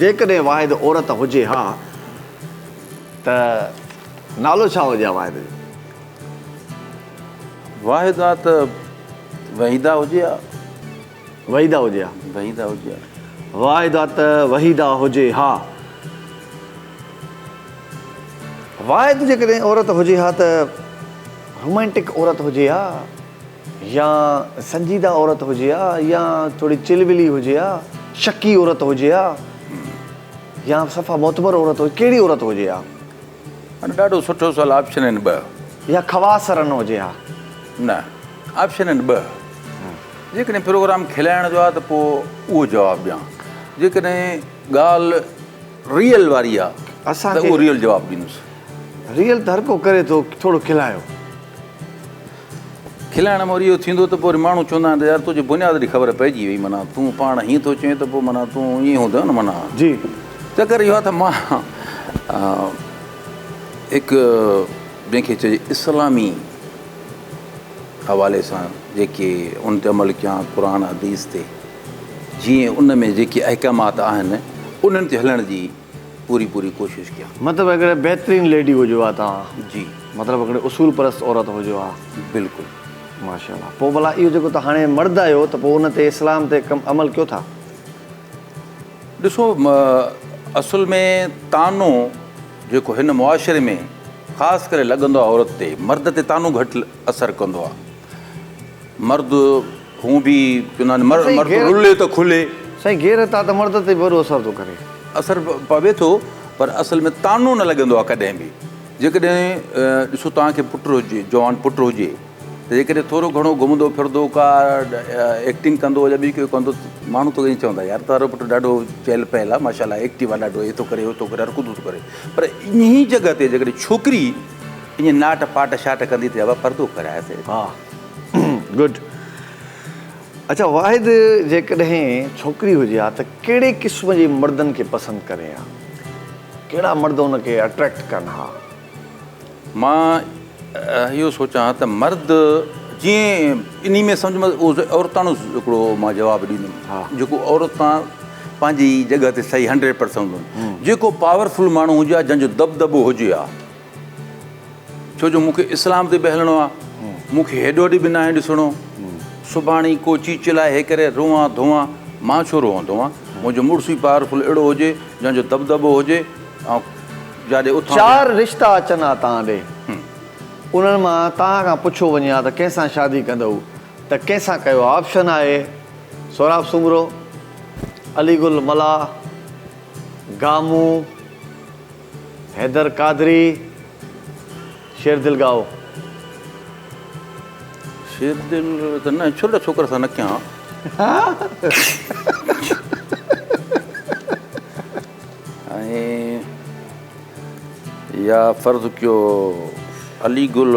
جيڪڏهن واحد عورت هجي ها ته نالو ڇا هجي ها واحد جو؟ واحد ها ته وحيده هجي ها. وحيده هجي ها. وحيده هجي ها. واحد ها ته وحيده هجي ها. واحد جيڪڏهن عورت هجي ها ته رومانٽڪ عورت هجي ها. يا سنجيده عورت هجي ها يا ٿوري چلبلي هجي ها، شڪي عورت هجي ها يا صفا معتبر عورت هجي ڪهڙي عورت هجي ها؟ هن ڏاڍو سٺو سوال آپشن آهن ٻه. يا خواص رن هجي ها. نه آپشن آهن ٻه. جيڪڏهن پروگرام کلائڻ جو آهي ته پوء اهو جواب ڏيان. جيڪڏهن ڳالهه ريئل واري آهي اسان کي ته اهو ريئل جواب ڏيندس. ريئل ته هر ڪو ڪري ٿو ٿورو کلايو. کلائڻ مان وري اهو ٿيندو ته پوء وري ماڻهو چوندا آهن ته يار تنهنجي بنياد جي خبر پئجي وئي معنيٰ تون پاڻ هيئن ٿو چئين ته پوء معنيٰ تون ائين هوندو نه معنيٰ جي چڪر اهو آهي ته مان هڪ جنهن کي چئجي اسلامي حوالي سان جيڪي ان تي عمل ڪيان قرآن حديث تي جيئن ان ۾ جيڪي احڪامات آهن انهن تي هلڻ جي پوري پوري ڪوشش ڪيان. مطلب هڪڙي بهترين ليڊي هجو ها توهان. جي. مطلب هڪڙي اصول پرست عورت هجو ها. بلڪل. ماشاء الله پو ڀلا اهو جيڪو توهان هاڻي مرد آهيو ته پو ان تي اسلام تي عمل ڪيو ٿا. ڏسو اصل ۾ طعنو جيڪو هن معاشري ۾ خاص ڪري لڳندو آهي عورت تي مرد تي طعنو گهٽ اثر ڪندو آهي. مرد هون به چوندان مرد رلي ته کلي. سائين غيرت آ ته مرد تي به اهڙو اثر ٿو ڪري. اثر پوي ٿو پر اصل ۾ طعنو نه لڳندو آ ڪڏهن به جيڪڏهن ڏسو توهان کي پٽ هجي جوان پٽ هجي ته جيڪڏهن ٿورو گهڻو گهمندو ڦردو ڪا ايڪٽنگ ڪندو يا ٻي ڪو ڪندو ماڻهو تو ائين چوندا يار تارو پٽ ڏاڍو چهل پهل آ ماشاء الله ايڪٽيو آ ڏاڍو هي ٿو ڪري هو ٿو ڪري هر ڪوتو ٿو ڪري پر انهي جڳهه تي جيڪڏهن ڇوڪري ائين ناٽ پاٽ شاٽ ڪندي ٿي ابا پردو ڪرايس. ها گڊ اڇا واحد جيڪڏهن ڇوڪري هجي ها ته ڪهڙي قسم جي مردن کي پسند ڪري ها ڪهڙا مرد ان کي اٽريڪٽ ڪن ها. مان اهو سوچان ها ته مرد جيئن انهي ۾ سمجهه مان اهو عورتاڻو هڪڙو مان جواب ڏيندم جيڪو عورتان پنهنجي جڳهه تي صحيح هنڊريڊ پرسنٽ هوندو جيڪو پاورفل ماڻهو هجي ها جنهن جو دٻدٻو هجي ها. ڇو جو مون کي اسلام تي به هلڻو آ مون کي هيڏو هوڏي به ناهي ڏسڻو سڀاڻي ڪو چي چلائي هي ڪري روئان ڌوئان مان ڇو روئان ڌوئان منهنجو مڙس ئي پاورفل اهڙو هجي جنهن جو دٻدٻو هجي آئون جاڏي اٿان چار رشتا اچن ها تان ڏي انهن مان تان کان پڇيو وڃي ها ته ڪنهن سان شادي ڪندئو ته ڪنهن سان ڪيو آپشن آهي سهراب سومرو علي گل ملاح گامون. حيدر قادري شير دل ڳائو. شير دل ته نه ڇل ڇوڪر سان نه ڪيان. ۽ يا فرض ڪيو علي گل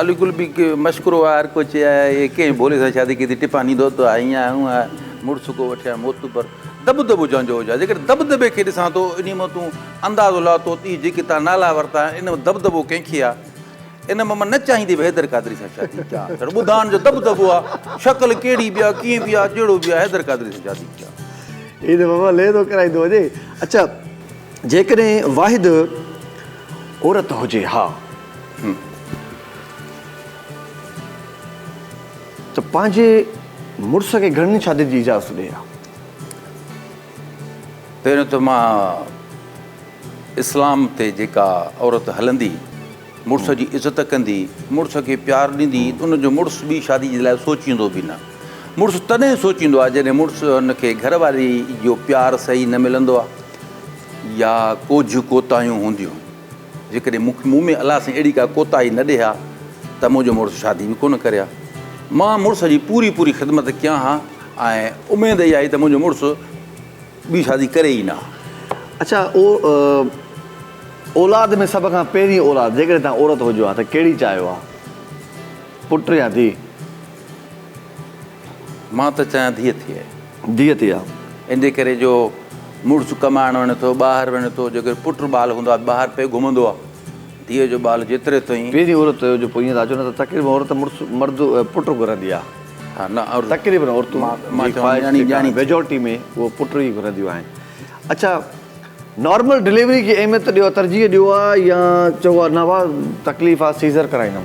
علي گل به مشڪرو آهي هر ڪو چي آهي ڪنهن ڀولي سان شادي ڪئي ٿي ٽپا ڏيندو ته آئين آهي هونء مڙس ڪو وٺيان معتبر. دٻدٻو جنهن جو هجان، جيڪڏهن دٻدٻي کي ڏسان ٿو، انهيء مان تون اندازو لاء ٿو ته اهي جيڪي تان نالا ورتا آهن، ان مان دٻدٻو ڪنهن کي آهي؟ ان مان مان نه چاهيندي به حيدر قادري سان شادي ڪيان، ڄڻ ٻڌان جو دٻدٻو آهي، شڪل ڪهڙي به آهي، ڪيئن به آهي، جهڙو به آهي، حيدر قادري سان شادي ڪيان. هي ته بابا ليرو ڪرائيندو وڃي. اڇا جيڪڏهن واحد عورت هجي ها. ته پنهنجي مڙس کي گهڻين شادين جي اجازت ڏئي ها. پهريون ته مان اسلام تي جيڪا عورت هلندي، مڙس جي عزت ڪندي، مڙس کي پيار ڏيندي ته ان جو مڙس ٻي شادي جي لاء سوچيندو به نه. مڙس تڏهن سوچيندو آهي جڏهن مڙس کي گهر واري جو پيار صحيح نه ملندو آهي يا ڪوجهه ڪوتاهيون هونديون. جيڪڏهن مون ۾ الله سائين اهڙي ڪا ڪوتاهي نه ڏئي ها ته منهنجو مڙس شادي به ڪونه ڪري ها. مان مڙس جي پوري پوري خدمت ڪيان ها ۽ اميد اها آهي ته منهنجو مڙس ٻي شادي ڪري ئي نه ها. اڇا او اولاد ۾ سڀ کان پهرين اولاد جيڪڏهن توهان عورت هجو ها ته ڪهڙي چاهيو ها پٽ يا ڌيء؟ مان ته چاهيان ڌيء ٿئي. ڌيء ٿئي ها. ان جي ڪري جو مڙس ڪمائڻ وڃي ٿو، ٻاهر وڃي ٿو، جيڪڏهن پٽ ٻال هوندو آهي ته ٻاهر پئي گهمندو آهي. ڌيء جو ٻال جيتري تائين. پهرين عورت جو پوء ائين ٿا اچو نه ته تقريبن عورت مڙس مرد پٽ گهرندي آهي. ها نه عورت. تقريبن عورتون جي خواهش جيڪا آهي ميجارٽي ۾ اهو پٽ ئي گهرنديون آهن. اڇا نارمل ڊليوري کي اهميت ڏيو ها ترجيح ڏيو ها يا چئو ها نه ڀاء تڪليف آهي سيزر ڪرائيندم.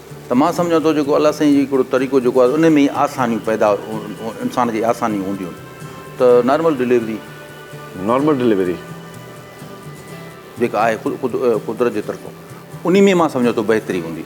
ته مان سمجهان ٿو جيڪو الله سائين جي هڪڙو طريقو جيڪو آهي ان ۾ ئي آسانيون پيدا انسان کي آسانيون هونديون ته نارمل ڊليوري. Normal delivery. جيڪا آهي خود قدرت جي طرفون انهي ۾ مان سمجهان ٿو بهتري هوندي.